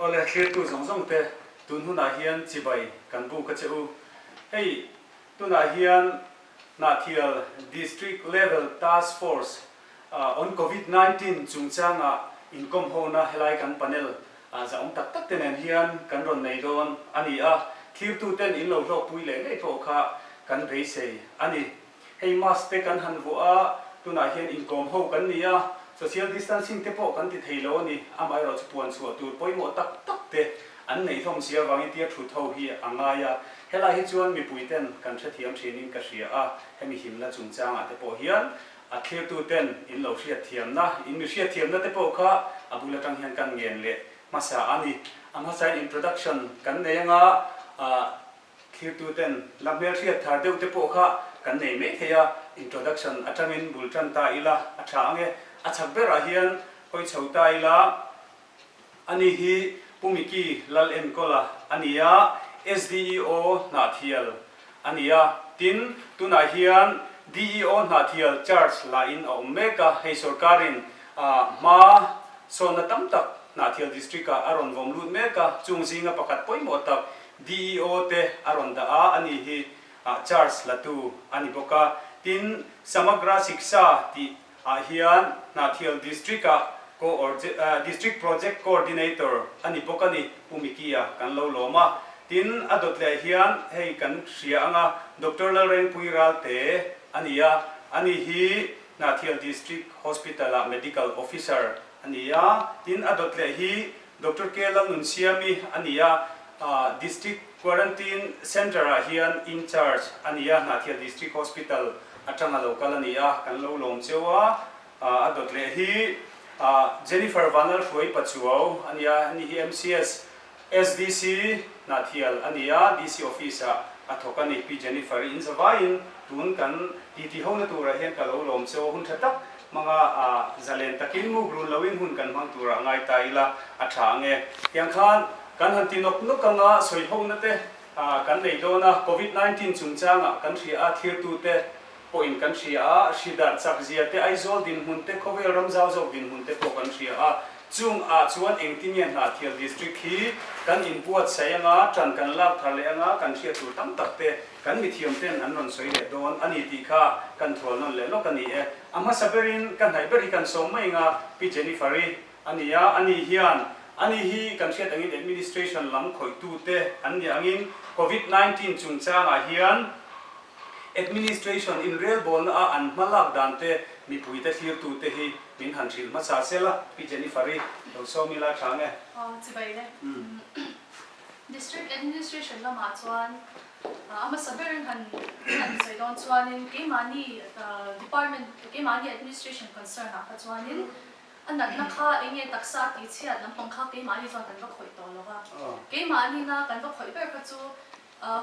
Awle, thlirtu zawng zawng te, tun hunah hian chibai kan bu ka che u. Hei tunah hian Hnahthial District Level Task Force on Covid nineteen chungchanga inkawmhona helai kan panel zahawm tak tak te nen hian kan rawn nei dawn a ni a, thlirtu ten in lo hlawkpui leh leh pawh kha kan beisei a ni. Hei mask te kan han vuah a, tunah hian inkawm ho kan ni a, social distancing te pawh kan ti thei lo a ni. Amaherawh chu puan chhuah tur pawimawh tak tak te an nei hlawm si avangin tir thut ho hi a ngai a. Helai hi chuan mipui ten kan hrethiam thinin ka hria a, hemi himna chungchangah te pawh hian a thirtu ten in lo hriatthiamna, in mi hriatthiamna te pawh kha a bul atang hian kan ngen leh hmasa a ni. A hmasain introduction kan nei anga, ah, Thirtuten la hmel hriat thar deuh te pawh kha kan nei mai thei a, introduction atangin bul tan ta ila a tha ang e. A chhak berah hian hawi chho ta ila, Ani hi Pu Micky lal enkawl-a a ni a, SDEO Hnahthial a ni a, tin, tunah hian DEO Hnahthial Church lahin a awm mek a, hei sorkarin hma sawnna tam tak Hnahthial District-ah a rawn vawm lut mek a, chung zinga pakhat pawimawh tak DEO te a rawn dah a, a nih hi ah charge la tu a ni bawk a. Tin, Samagra Shiksha tih ah hian Hnahthial District ah Coordi ah District Project Coordinator a ni bawk a ni, Pu Micky a kan lo lawm a. Tin, a dawt leh hian hei kan hria anga Doctor Lalrengpui Ralte a ni a, a nih hi Hnahthial District Hospital ah Medical Officer a ni a. Tin, a dawt leh hi Doctor K la nun siami a ni a, District Quarantine Centre ah hian in charge a ni a, Hnahthial District Hospital atanga lo kal a ni a, kan lo lawm cheu a, a dawt leh hi Jennifer Vanlalhruai Pachuau a ni a, ni hi MCS SDC Hnahthial a ni a, DC Office ah a thawk a ni, Pi Jennifer i in zavaiin tun kan titi hona turah hian ka lo lawm cheu a, hun tha tak. Hmanga a zalen takin muk run loin hun kan hmang turah ngai ta ila a tha ang e. Tiang khan kan han ti nawk nawk anga sawi hona te kan nei dawn a, Covid nineteen chungchangah kan hria a thirtu te pawhin kan hria a, hri darh chak zia te, Aizawl dinhmun te, khawvel ram zau zawk dinhmun te pawh kan hria a. Chungah chuan engti nge Hnahtial District hi kan inbuatsaih anga tan kan lak thar leh anga kan hria tur tam tak te, Kan mithiam ten an rawn sawi leh dawn a ni tih kha kan thual nawn leh lawk a ni e. A hmasa berin ka hnaih ber hi kan sawm mai eng a, Pi Jennifer-i a ni a, ani hian ani hi kan hriat angin administration lam khawitute an ni angin Covid nineteen chungchangah hian administration inrelbawlna a an hma lak dan te mipuite thlirtu te hi min han hrilh hmasa sel a, Pi Jennifer-i, Lo Sawmila Chang e. Aw, chibai le. Umm. District Administration lamah chuan a hmasa ber han han sawi dawn chuanin keimahni Department keimahni Administration concern ah kha chuanin a natna kha eng nge taksa a tih chhiat lampang kha keimahni chuan kan va khawih tawh lo va. Keimahnina kan va khawih ber kha chu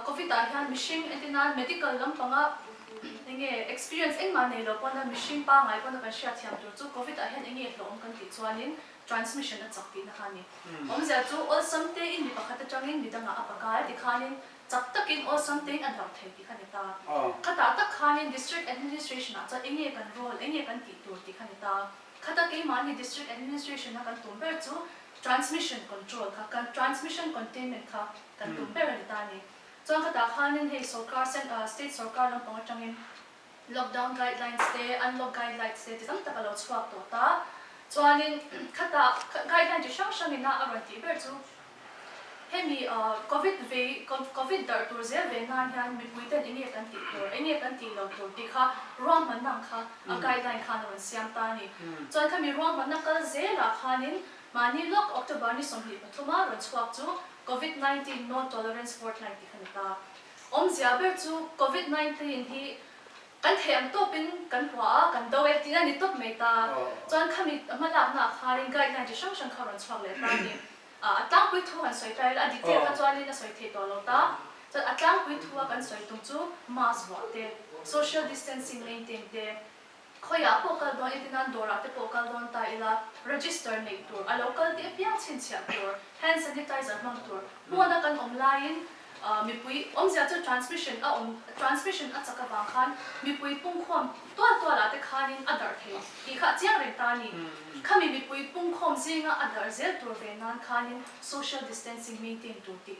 Covid ah hian mihring entina medical lampanga eng nge experience engmah nei lo pawna mihring pangai pawna kan hriatthiam tur chu Covid ah hian eng nge hlawhawm kan tih chuanin Transmission a chak tihna kha a ni. Awmzia chu awlsam te in mi pakhat atangin mi dangah a pa kal tikhanin chak takin awlsam tein a darh thei tih kha ni ta. Khata tak khanin District Administration-ah chuan eng nge kan role, eng nge kan tih tur tih kha ni ta. Khata keimahni District Administration-a kan tum ber chu Transmission Control kha, kan Transmission Containment kha kan tum ber a ni ta a ni. Chuan khata khanin hei sawrkar, State sawrkar lampang atangin, Lockdown guidelines te, unlock guidelines te, ti tam tak a lo chhuak tawh ta. Chuanin khata guideline chi hrang hrang ina a rawn tih ber chu hemi Covid vei, Covid darh tur zel ve nan hian mipui ten enge kan tih tur, enge kan tih lo tur tih kha ruahmanna ang kha a guideline khan a rawn siam ta a ni. Chuan khami ruahmanna kal zelah khanin mahni lawk October ni sawmhnih pathuma rawn chhuak chu Covid nineteen No Tolerance Fortnight tih ka ni ta. Awmzia ber chu Covid nineteen hi kan theih ang tawpin kan hua a, kan do e, tiin a ni tawp mai ta. Chuan khami a hma lakna ah kharin guideline chi hrang hrang kha a rawn chhuak leh ta a ni. A tlangpui thu han sawi ta ila a detail kha chuanin a sawi thei tawh lo ta. Chuan a tlangpui thua kan sawi tum chu mask vuah te, social distancing maintain te, Khawiah pawh kal dawn iti nan dawrah te pawh kal dawn ta ila, register neih tur, a lo kal tih apiang chhinchhiah tur, hand sanitizer hmang tur, hmuana kan awm laiin mipui awmzia chu transmission a awm transmission a chak avang khan mipui pungkhawm tual tualah te khanin a darh thei tih kha a chiang reng ta a ni. Khami mipui pungkhawm zinga a darh zel tur ve nan khanin social distancing maintain tur tih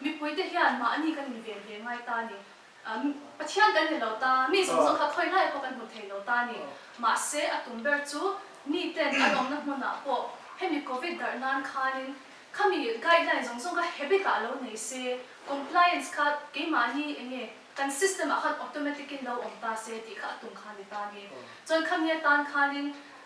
Mipuite hian mah ani kan inven ve ngai ta ni. Pathian kan ni lo ta, mi zawng zawng kha thawi lai pawh kan hmu thei lo ta ni. Mahse, a tum ber chu miten an awmna hmunah pawh hemi Covid darh nan khanin khami guideline zawng zawng kha habit ah lo nei se, compliance kha keimahni eng nge kan system ah khan automatic in lo awm ta se tih kha a tum kha a ni ta ni. Chuan khami atan khanin.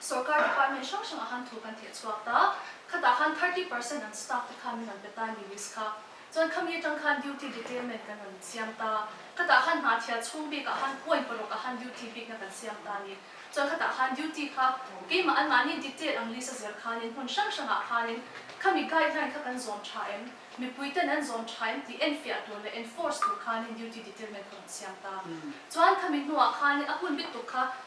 Sorkar department hrang hrangah khan thu kan theh chhuak ta, khatah khan thirty percent an staff te khan min rawn pe ta a ni list kha, chuan khami atang khan duty detailment kan rawn siam ta, khatah khan hnahthial chhung bikah khan point pawhruk ah khan duty bikna kan siam ta a ni, chuan khatah khan duty kha keimah anmahni detail ang list a zir khanin hmun hrang hrangah khanin khami guideline kha kan zawm tha em, mipui ten an zawm tha em tih enfiah tur leh enforce tur khanin duty detailment ka rawn siam ta, chuan khami hnuah khanin a hun bik tuk kha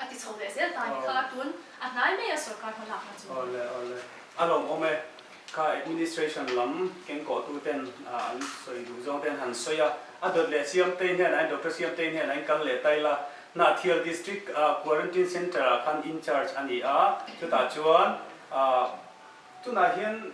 A ti chho leh zel ta ni kha tun a hnai mai a sorkar hmalak na chu. Awle awle. A lo awm e. Kha administration lam kengkawh tu ten an sawi duh zawng ten han sawi a. A dawt leh siamtei hnenah in doctor siamtei hnenah in kal leh tail a. Hnahthial district a quarantine centre ah khan in charge a ni a. Chutah chuan tunah hian.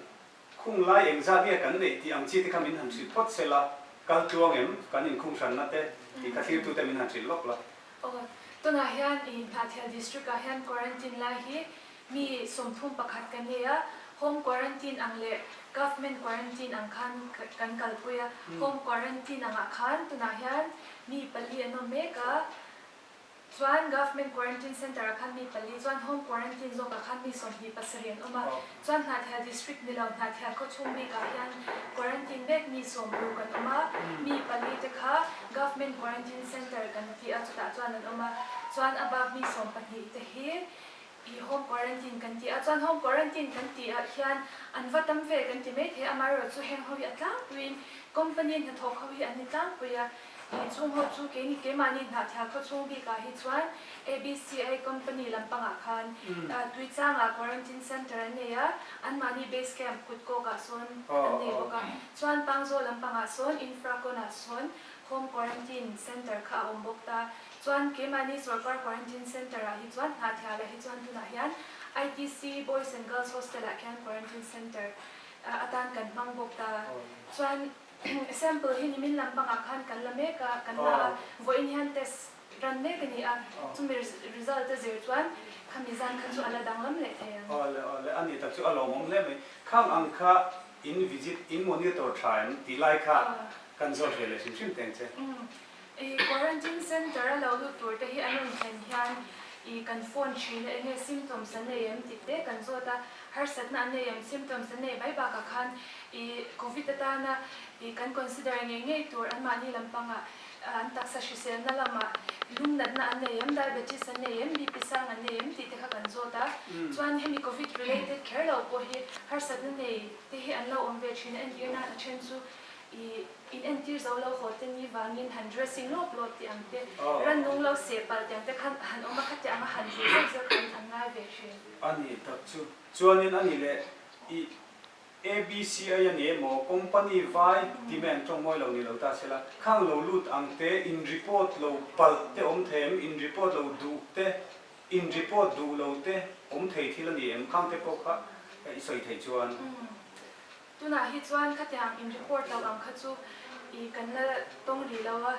Khung lai eng zat nge kan neih tih ang chi te kha min han hrilh phawt sel a, kal tluang em, kan inkhung hranna te tih kha thlir tu te min han hrilh lawk la. Aw, tunah hian i Hnahthial District ah hian Quarantine lai hi mi sawmthum pakhat kan nei a, Home Quarantine ang leh Government Quarantine ang khan kan kalpui a, Home Quarantine angah khan tunah hian mi pali an awm mek a, chuan Government Quarantine Centre a khat mi pali chuan Home Quarantine zawk a khat mi sawmhnih pasarih an awm a. Chuan Hnahthel District ni lo Hnahthel khawchhung bikah hian Quarantine mek mi sawm lu kan awm a. Mi pali te kha Government Quarantine Centre kan tih a chutah chuan an awm a. Chuan a bak mi sawm pahnih te hi I home quarantine kan ti a, chuan home quarantine kan tih ah hian an va tam ve kan ti mai thei a, amaherawh chu heng ho hi a tlangpuiin company hnathawk ho hi an ni tlangpui a, i chung ho chu keini keimahni hnahthla khaw chhung bik ah hi chuan ABCI company lampang ah khan tui chang ah quarantine center an nei a, an mahni base camp kut kawk ah sawn an nei bawk a, chuan Pangzaw lampang ah sawn Infraconah sawn home quarantine center kha a awm bawk ta. Chuan keimahni sorkar quarantine centre ah hi chuan Hnahthial a hi chuan tunah hian ITC Boys and Girls Hostel ah khian quarantine centre atan kan hmang bawk ta chuan sample hi nimin lam pang ah khan kan la mek a kan la a vawiin hian test ran mek a ni a chumi result a zir chuan khami zan kha chu a la danglam leh thei ang. Aw le aw le ani tak chu a lawm awm hle mai khang ang kha in visit in monitor tha em tih lai kha kan zawt ve leh hrim hrim teng che. I quarantine center a lo lut tur te hi an rawn thlen hian i kan phone thin a enge symptoms an nei em tih te kan zawt a, harsatna an nei em symptoms an nei bai bakah khan i covid atana i kan consider ngei ngei tur anmahni lampangah an taksa hriselna lamah lungnatna an nei em, diabetes an nei em, BP sang an nei em tih te kha kan zawt a, chuan hemi covid related kher lo pawh hi harsatna nei te hi an lo awm ve thin a, entirnan a then chu I in entir zo lo haw te ni vangin han dressing lawp lawp tih ang te, ran nung lo seh palh tih ang te khan han awm a, khatiah ang a han zir zeuh zeuh tih angin an ngai ve thin. A ni tak chu. Chuanin a ni le, i ABCI a ni emaw, company vai demand tawng mawi lo ni lo ta sela, khang lo lut ang te, in report lo palh te awm thei em, in report lo duh te, in report duh lo te awm thei thil a ni em, khang te pawh kha i sawi thei chuan. Tunah hi chuan khatiang in record lo ang kha chu ih kan la tawng rih lo a,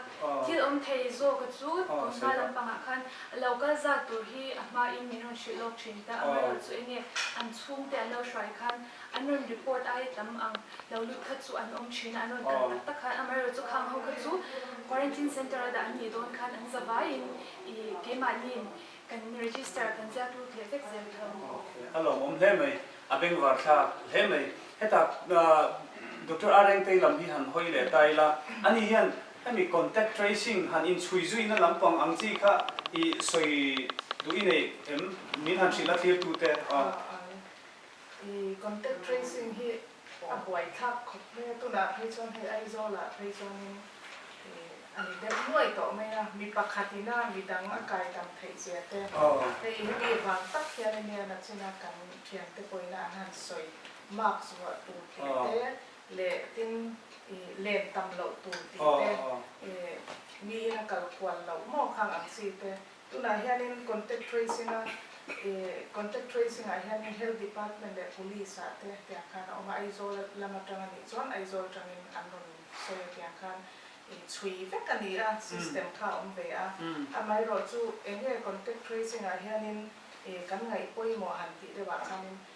thil awm thei zawka chu kan hma lampangah khan lo kal zat tur hi a hmain min rawn hrilh lawk thin ta, amaherawhchu chu enge an chhungte an lo hruai khan an rawn report ai tam ang lo lut kha chu an awm thin a, an rawn kal tak tak khan amaherawh chu khang ho kha chu quarantine center a dah an nih dawn khan an zavaiin ih keimahniin Kan register kan ziak lut leh vek zel tho. A lawmawm hle mai, a beng var thla hle mai. Heta Doctor Areng tei lam hi han hawi leh ta ila, ani hian hemi contact tracing han inchhui zuina lampang ang chi kha i sawi duh i neih em? Min han hrilh a thlir tute. Contact tracing hi A buai thlak khawp mai a, tunah phei chuan hei Aizawlah phei chuanin a ni deuh nuai tawh mai a, mi pakhat ina midang a kai dang theih zia te, hei hemi vang tak hian Indiana china kan thiante pawhina an han sawi mark zuah tur theih te leh tin i len tam loh tur tih te, i miin a kal kual loh mawkang ang chi te, Tunah hianin contact tracing-a contact tracing-ah hianin Health Department leh Police-a te tiang khan a awm a, Aizawl lam atang a nih chuan Aizawl atangin an rawn sawi a tiang khan chhui vek a ni a, system kha a awm ve a. Amaherawhchu, eng nge contact tracing-ah hianin kan ngaih pawimawh han tih deuhah khanin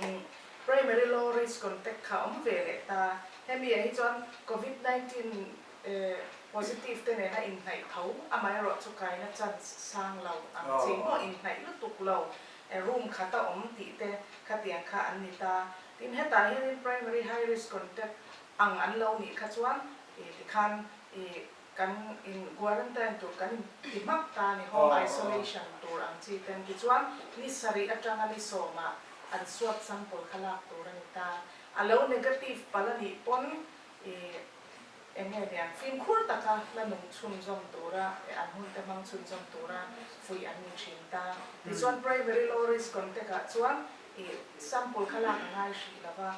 Eng, Primary low risk contact kha awm ve leh ta. Hemi ah hi chuan Covid nineteen positive te nena inhnaih tho amaherawh chu kaina chance sang lo ang chi maw inhnaih lutuk lo room khat a awm tih te khatiang kha an ni ta. Tin hetah hianin primary high risk contact ang an lo nih kha chuan tikhan Kan in quarantine tur kan ti hmak ta a ni, home isolation tur ang chi te an ti chuan ni sarih atanga ni sawmah an swab sample kha lak tur a ni ta. A lo negative palh a nih pawn i eng nge nia fimkhur taka la nung chhunzawm tura leh an hmun te hmang chhunzawm tura fuih an ni thin ta. Tichuan primary low risk contact ah chuan I sample kha lak a ngai hrih lo va,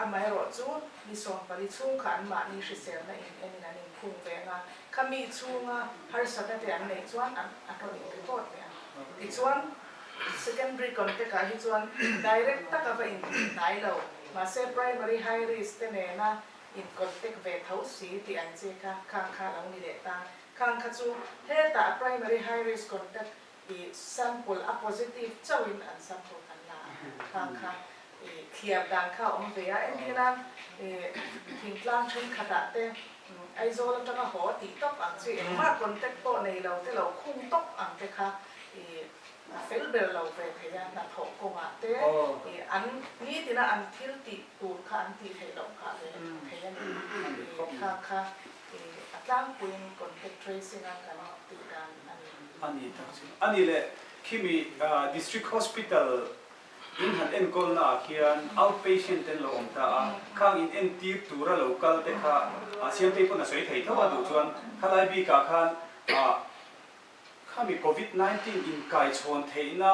amaherawh chu mi sawm pali chhung kha an mahni hriselna in enin an inphung ve ang a, khami chhunga harsatna te an nei chuan an a hlawt in ringawt leh ang. Tichuan, secondary contact ah hi chuan direct tak a va intih hnai lo, mahse primary high risk te nena in contact ve tho si tih an che kha khang kha a lo ni leh ta, khang kha chu hetah primary high risk contact i sample a positive chauhin an sample kan la a, khang kha i thliar dan kha a awm ve a, entir nan i thingtlang thenkhatah te Aizawl atanga haw tih tawp ang chu engmah contact pawh nei lo te lo khung tawp ang te kha i a fel ber lo ve thei a, hnathawh kawngah te i an nitina an thil tih tur kha an tih theih loh nghah ve thei a ni. I khang kha Ih, a tlangpuiin contact tracing a kan tih dan a ni. A ni tak chu. A ni le, khimi District Hospital in han enkawlnaah khian outpatient ten lo awm ta a, khang in entir tura lo kal te kha siamtei pawn a sawi thei tho a, duh chuan khalai bikah khan khami Covid nineteen inkaichhawn theihna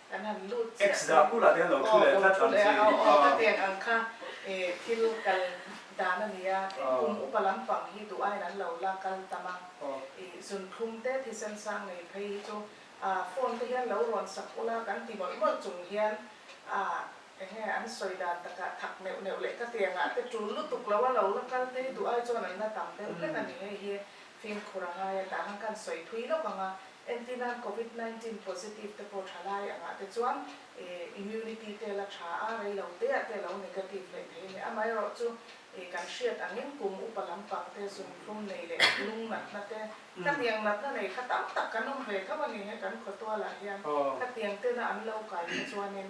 Kan han lut chiah X dah kulh ah te an lo thu leh tlat ang chi a ni a. Tate an ang kha e thil kal dan a ni a, i kum upa lampang hi duh aiin an lo la kal tam a, i zun thlum te thisen sang nei phei hi chu a phone te hian lo rawn sak ul a kan ti mawlh mawlh chung hian a engnge an sawi dan tak a thak neuh neuh leh ka ti ang a te tul lutuk lo a lo la kal te hi duh ai chuan an la tam deuh hlek a ni hei hi Fimkhur a ngai atang a kan sawi phui lawk ang a, entir nan Covid nineteen positive te pawh tha lai angah te chuan immunity te la tha a, rei lo teah te lo negative leh theih a ni, amaherawh chu kan hriat angin kum upa lampang te, zumhlum nei leh lung natna te, khatiang natna nei kha tam tak kan awm ve tho a ni, hei kan khawtualah hian khatiang tena an lo kai kha chuanin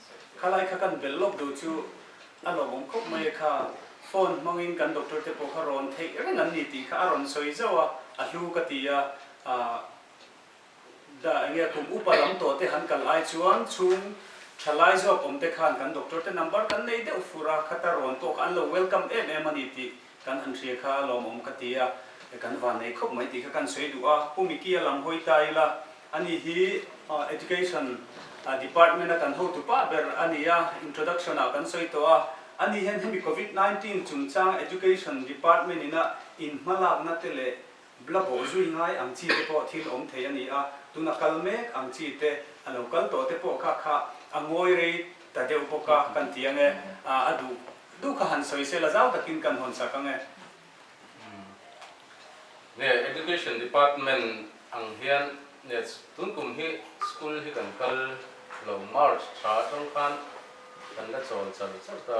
Khalai kha kan belh lawk duh chu a lo awm khawp mai a kha, phone hmangin kan doctor te pawh kha rawn theih reng an ni tih kha a rawn sawi zauh a, a hlu ka ti a, ahh dah engnge kum upa lam tawh te han kal ai chuan chhung tha lai zawk awm te khan kan doctor te number kan nei deuh fur a, khata rawn pawh kha an lo welcome em em a ni tih Kan han hria kha lawmawm ka ti a, kan van nei khawp mai tih kha kan sawi duh a, Pu Micky-a lam hawi ta ila, ani hi Education Department-a kan hotu pah ber a ni a, introduction-ah kan sawi tawh a, ani hian hemi Covid nineteen chungchang Education Department-ina inhmalakna te leh Bla bawh zui ngai ang chi te pawh thil awm thei a ni a, tun a kal mek ang chi te a lo kal tawh te pawh kha kha a ngawi rei ta deuh bawk a kan ti ang e, ah a duh duh kha han sawi sela zau takin kan hawn sak ang e. Nge Education Department ang hian nge tun kum hi school hi kan kal lo March tha atang khan kan la chawl char char ta.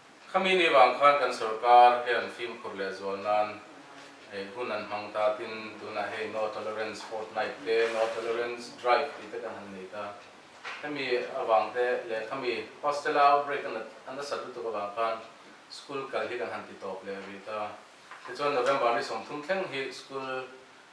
Khami ni vang khan kan sorkar hian fimkhur leh zual nan ei hun an hmang ta tin tunah hei No Tolerance Fortnight te No Tolerance Drive tih te kan han nei ta. Hemi avang te leh khami Pastella outbreak a a nasat lutuk avang khan school kal hi kan han ti tawp leh rih ta. Tichuan November ni sawm thum thleng hi school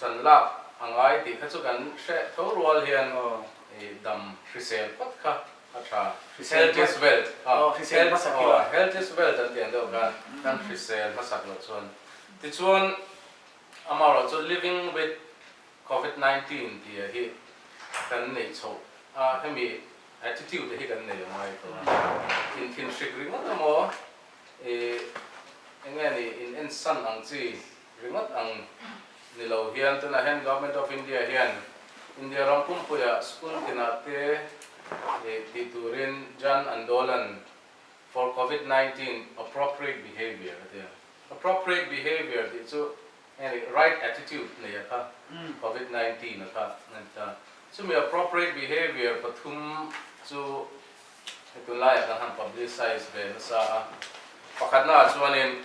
Tan lak a ngai tih kha chu kan hreh tho rual hian i dam hrisel phawt kha a tha Healthiest Wealth aw Healthiest Wealth an tih ang deuh khan kan hrisel hmasak loh chuan tichuan amaherawh chu Living with Covid nineteen ti a hi kan neih chhoh a hemi attitude a hi kan nei a ngai tawh a in thinhrik ringawt emaw i enge ni in en san ang chi Ringawt ang ni lo hian tunah hian Government of India hian India ram pumpuia school tinah te nih tih turin Jan Andolan for Covid nineteen Appropriate Behaviour a ti a. Appropriate Behaviour tih chu eng ni right attitude neih a kha Covid nineteen a kha a ni ta. Chumi Appropriate Behaviour pathum chu hei tunlaiah kan han publicise ve nasa a. Pakhatnaah chuanin.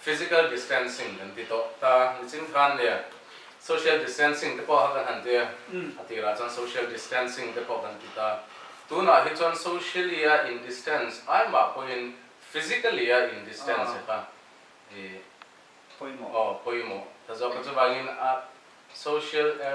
Physical distancing kan ti tawh ta a, ni ching than nia. Social distancing te pawh a kan han ti a, a tir ah chuan social distancing te pawh kan ti ta. Tunah hi chuan socially a in distance ai mah pawhin physically a in distance e kha i pawimawh. Aw pawimawh ta zawk a, chuvangin a social a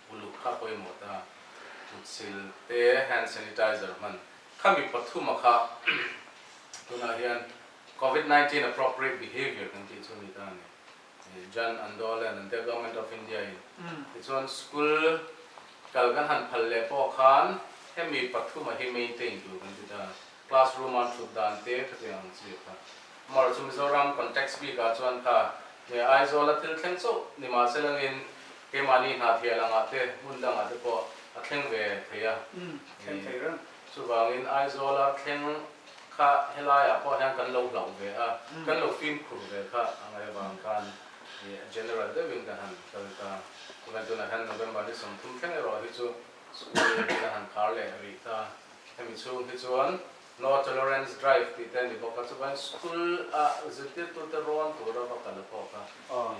uluk kha pawimawh ta, tlutsil te, hand sanitizer hman kha mi pathum a kha tunah hian Covid nineteen appropriate behaviour kan tih chu a ni ta a ni. Jan Andolan an tia Government of India in tichuan school kal kan han phal leh pawh khan hemi pathum a hi maintain tur kan ti ta a. Classroom a an thut dan te khatiang ang chu i khat. Amah chu Mizoram context bik ah chuan ta hne a Aizawl a thil thleng chauh ni mah se langin keimahni hnathia lang ah te hmun dang ah te pawh a thleng ve thei a ni. Chuvangin Aizawl a thleng kha helai ah pawh hian kan lo hlauh ve a, kan lo fimkhur ve kha a ngai avang khan general deuh in ka han kal ta. Chuvang in tunah hian November ni sawm thum thleng erawh hi chu school in a han khar leh rih ta. Hemi chhung hi chuan No Tolerance Drive tih te a ni bawk a, chumain school a zirtirtute rawn tura va kal a kawk a,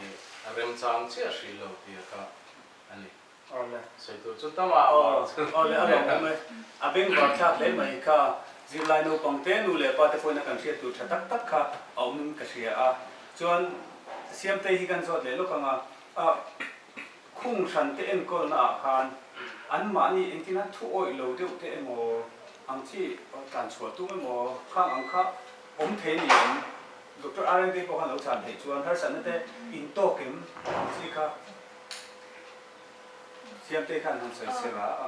ih a remchang chiah hrih lo tia kha a ni. Sawi tur chu tam a awm ang chu. Awle a rawn awm e. A beng var thlak hle mai kha zirlai naupangte nu leh pa te pawhin a kan hriat tur tha tak tak kha a awm in ka hria a. Chuan Siamtei hi kan zawt leh lawk ang a. Khung hrante enkawlna ah khan an mahni engtin an thu awih lo deuh te emaw, ang chi tlan chhuah tum emaw khang ang kha awm thei niin Doctor RMB pawh khan lo chhan theih chuan harsatna te in tawk em ang chi kha Siamte khan han sawi sela a.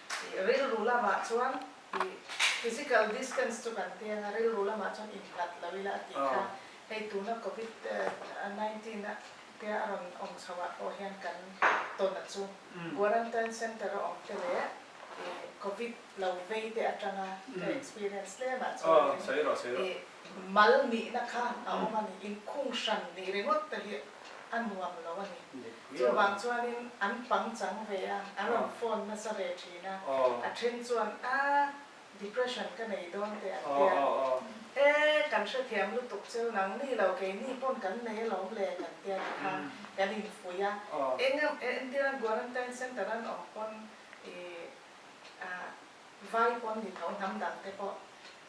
Rilru lamah chuan physical distance chu kan ti anga rilru lamah chuan innghat lo ila a tih kha hei tuna covid nineteen a tia a rawn awm chho ah pawh hian kan tawn a chu quarantine center a awm te leh covid lo vei te atanga ka experience tlem ah chuan in Mal nihna kha a awm a ni. Inkhung hran nih ringawt te hi a nuam lo a ni. Chuvang chuanin an pang chang ve a, a rawn phone nasa ve thin a. A then chuan a depression ka nei dawn teh an ti a. E kan hrethiam lutuk cheu nang ni lo keini pawn kan nei alawm le kan ti a ti kha kan infuih a. Enga Indira Guarantine Centre an awm pawn i a vai pawn ni tho hnam dangte pawh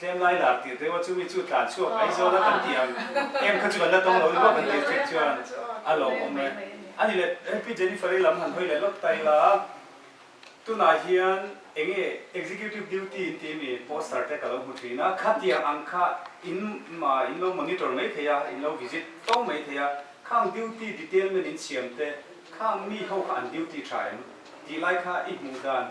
Tlem lai lak tir deuha chu mi chu tlan chhuak ai zawla kan ti ang. Em kha chu kan la tawng lo luah kan tir chik chuan a lo awm e. A ni le, LP Jennifer hi lam han hawi leh lawt ta ila a, tunah hian eng nge executive duty in tih mi poster te ka lo hmu thin a, khatiang ang kha in mah in lo monitor mai thei a, in lo visit tawng mai thei a, khang duty detailment in siam te, khang mi ho kha an duty tha em? Tih lai kha i hmuh dan.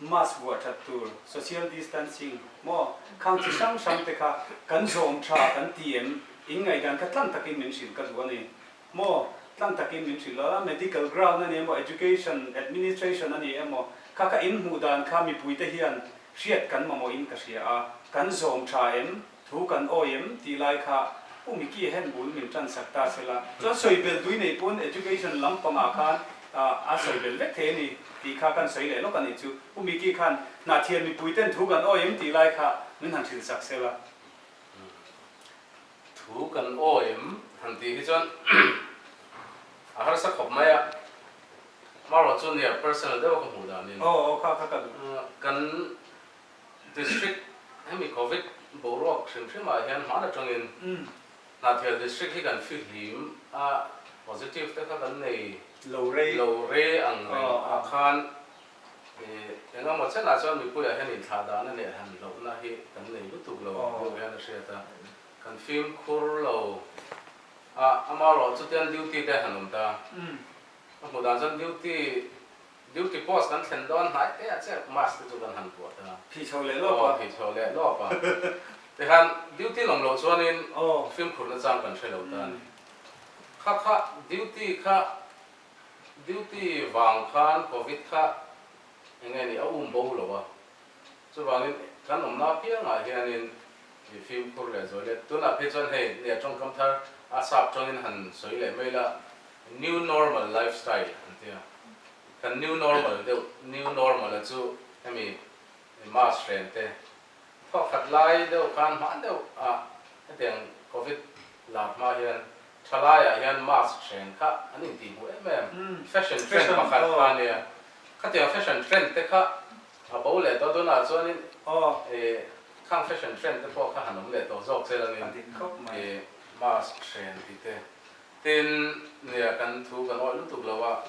mask vuah that tur, social distancing, maw khang chi hrang hrang te kha kan zawm tha kan ti em? In ngaihdan kha tlang takin min hrilh ka duh a ni maw? Tlang takin min hrilh loh a, medical ground a ni emaw, education, administration a ni emaw kha ka inhmuh dan kha mipuite hian hriat kan mamawhin ka hria a, kan zawm tha em? Thu kan awi em tih lai kha Pu Micky-a hen bul min tansak ta se la. Chuan sawi bel dui nei pawn education lam pangah khan a sawi bel vek thei a ni tih kha kan sawi leh lawk a nih chu. Pu Micky khan Hnahthian mipui ten thu kan awi em tih lai kha min han hrilsak se la. Thu kan awi em han tih hi chuan a harsa khawp mai a. Marawh chu near personal deuha ka hmuh dan in kan. District hemi Covid boruak hrim hrimah hian hman atangin Hnahthial District hi kan fihlim a, positive te kha kan nei lo re ang reng ah khan engemaw chenah chuan mipuiah hian inthlah dahna leh han lohna hi kan nei lutuk lo deuh hian a hriat a, kan fimkhur lo a, amaherawhchu tian duty te han awm ta, a hmuh dan chuan duty Duty post kan thlen dawn hnai teah chiah mask te chu kan han vuah ta. Phihthlo leh lawp a. Aw phihthlo leh lawp a. Tihan duty lawm loh chuanin film khurhna chang kan hre lo ta a ni. Kha kha duty kha duty vang khan covid kha eng nge ni a um bo lo a. Chuvangin kan awmna apiangah hianin mi fimkhur leh zawilet tunah phei chuan hei nge tawngkam thar a sap tawngin han sawi leh mai la, new normal life style an ti a. Kan new normal deuh new normal-a chu hemi mask hrem te, thaw khat lai deuh khan hmang deuhah hetiang covid lar hma hian tha laiah hian mask hrem kha an intihhmuh em em, fashion trend pakhat kha nia. Khatiang fashion trend te kha A bo leh tawh dawnah chuanin i khang fashion trend te pawh kha han awm leh tawh zawk che lo nin i mask hren tih te. Tin, nia kan thu kan awrh lutuk lo a,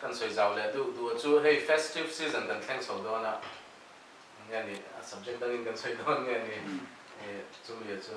kan sawi zau leh duh duh chu hei festive season kan thleng chho dawn a, nge ni, a subject dangin kan sawi dawn nge ni, i chumi a chu.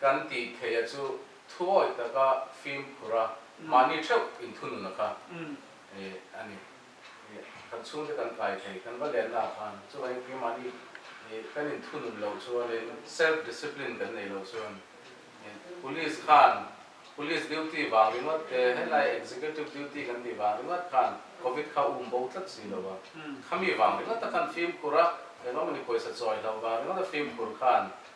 Kan tih theia chu thuawih taka fimkhur a, mahni theuh in thunun a kha e a ni. Kan chhungte kan kai thei, kan va lenna ah khan chuvang engkim mahni kan in thunun loh chuan in, self discipline kan nei loh chuan in, police khan police duty vang ringawt te, helai executive duty kan tih vang ringawt khan covid kha um bo tlat si lo a, khami vang ringawt a khan fimkhur a, engmah mawni pawisa chawi hlo vang ringawt a fimkhur khan.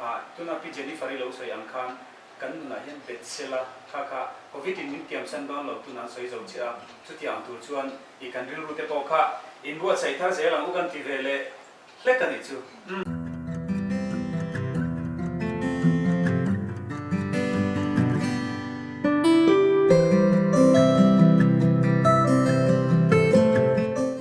A, tuna pi Jennifer-i lo sawi ang khan kan nunah hian Betsela kha kha Covid-in min tiamsan bang lo tun an sawi zo che a, chutia ang tur chuan i kan rilru te pawh kha in buatsaih thar zel ang u kan ti ve leh hlek a nih chu. Umm.